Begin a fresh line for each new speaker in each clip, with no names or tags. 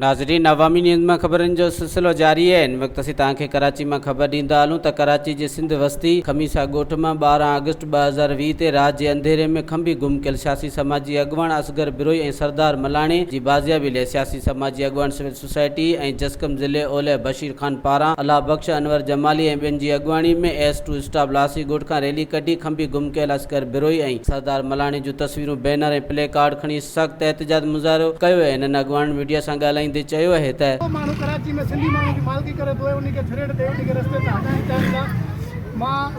ناظرين عوامي نيوز مان خبرن جو سلسلو جاري آهي ان وقت اسين توهان کي ڪراچي مان خبر ڏيندا هلون ته ڪراچي جي سنڌ وستي خميسا ڳوٺ مان ٻارهن آگسٽ ٻه هزار ويهه تي رات جي انڌيري ۾ کنڀي گم ڪيل سياسي سماجي اڳواڻ اصغر بروهي ۽ سردار ملاڻي جي بازيابي لئي سياسي سماجي اڳواڻ سوسائٽي ۽ جسقم ضلعي اولهه بشير خان پاران الله بخش، انور جمالي ۽ ٻين جي اڳواڻي ۾ ايس ٽو اسٽاف لاسي ڳوٺ کان ريلي ڪڍي کنڀي گم ڪيل عسڪر بروهي ۽ سردار ملاڻي جون تصويرون بينر ۽ پلي ڪارڊ کڻي سخت احتجاج مظاهرو ڪيو ويو هنن اڳواڻن ميڊيا سان ڳالهائيندي چيو اهي ته. ڪو ماڻهو ڪراچي ۾ سنڌي
ماڻهن جي مالڪي ڪري پوء انهي کي ڇڙيٽ ڏئي انهي کي رستي تان هٽائڻ چاهين ٿا مان.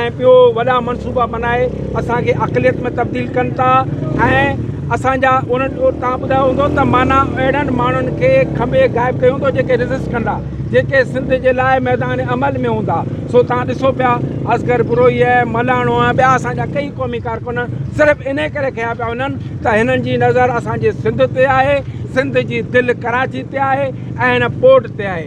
۽ ٻيو وڏا منصوبا بنائي اسان کي اقليت ۾ تبديل ڪن ٿا ۽ اسان جا ان تان ٻڌايو هوندو ته معنيٰ اهڙن ماڻهن کي کنڀي غائب ڪيو هوندو جيڪي ريزسٽ ڪندا جيڪي سنڌ جي لاء ميدان عمل ۾ هوندا سو تان ڏسو پيا اصغر بروهي ۽ ملاڻو ۽ ٻيا اسان جا ڪئي قومي ڪارڪن صرف ان ڪري کنيا پيا وڃن ته هنن جي نظر اسان جي سنڌ تي آهي سنڌ جي دل ڪراچي تي آهي ۽ هن پورٽ تي آهي.